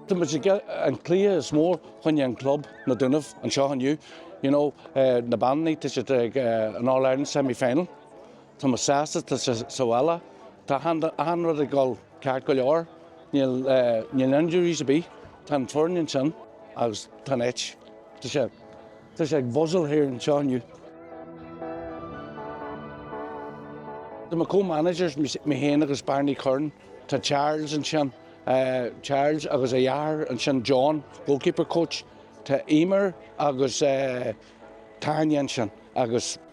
Tá muid ag an cluiche is mó chuige an club, na Dúnaibh, anseo inniu. You know, na beanannaí, tá siad ag an All Ireland semi final. Tá muid sásta, tá sé sa bhaile. Tá achan rud ag dul ceart go leor. Níl injuries ar bith. Tá an foireann ansin agus tá an áit. Tá sé. Tá sé ag buzzáil thart anseo inniu. Tá mo co-managers, mé féin agus Barney Curran, tá Charles ansin, Charles agus a dheartháir ansin John, goalkeeper coach, tá Emer agus Tanya ansin agus.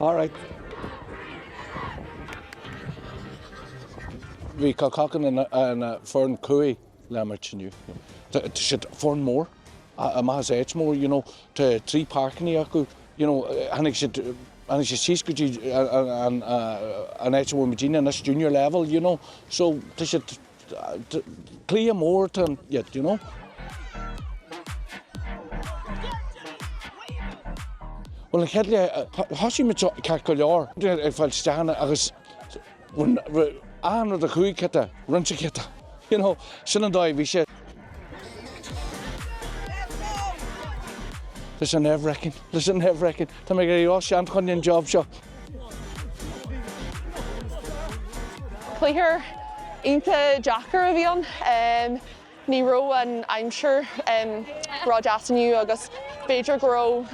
All right, bhí Kilcock ina foireann chruaidh le imirt inniu. Tá siad foireann mór, amach as áit mór, you know. Tá trí páirceanna acu, you know. Tháinig siad síos go dtí an áit a bhfuil muidinne anois, junior level, you know. So, tá siad. Cluiche mór dóibh fosta you know. Bhuel an chéad leath thosaigh muid ceart go leor ag fáil isteach ann agus achan rud ach chuaigh cinnte roinnte cinnte you know sin an dóigh a bhí sé. It is nerve-wracking, it is nerve-wracking. Tá mé ag éirí ró-shean chun an job seo. Cluiche iontach deacair a bhí ann. Ní raibh an aimsir ró deas inniu agus b'fhéidir go raibh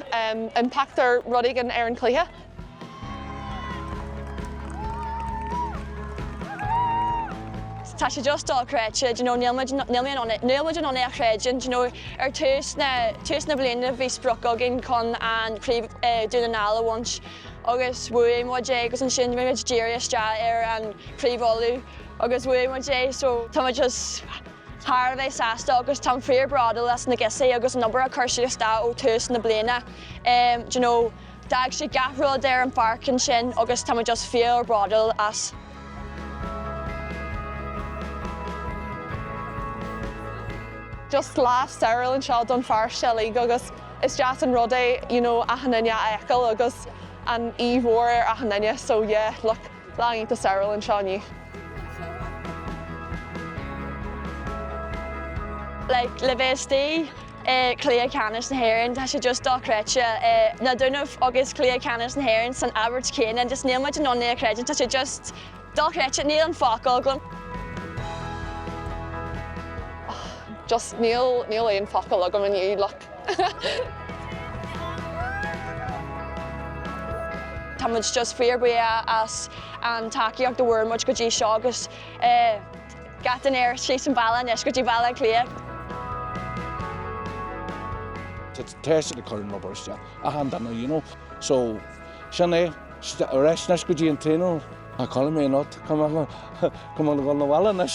impact nó rud éigin ar an cluiche. Tá sé just dochreidte, do you know, níl muid in ann é a chreidiúint, do you know, ar tús na, tús na bliana bhí sprioc againn chun an chraobh Dún na nGall a bhaint agus bhuaigh muid é agus ansin bhí muid díreach isteach ar an chraobh Uladh agus bhuaigh muid é so tá muid just thar a bheith sásta agus táim fíor bródúil as na girsí agus an obair a cur siad isteach ó tús na bliana, do you know, D'fhág siad gach rud ar an pháirc ansin agus tá muid just fíor bródúil astu. Just lá stairiúil anseo don pharóiste uilig agus is deas an rud é you know achan duine a fheiceáil agus an aoibh mhór ar achan duine so yeah look. Lá iontach stairiúil anseo inniu. Like le bheith istigh i cluiche ceannais na hÉireann tá sé just dochreidte. Na Dúnaibh agus cluiche ceannais na hÉireann san abairt chéanna just níl muid in ann é a chreidiúint, tá sé just dochreidte, níl na focail agam. Just níl aon focal agam inniu like. Tá muid just fíorbhuíoch as an tacaíocht a fuair muid go dtí seo agus gach duine ar síos an bealach anois go dtí Baile Átha Cliath. Tá teiste ag cur an rubar isteach ach an duine you know so sin é ar ais anois go dtí an traenáil Tá Colm anocht chomh maith le chomh maith le dhul 'na bhaile anois.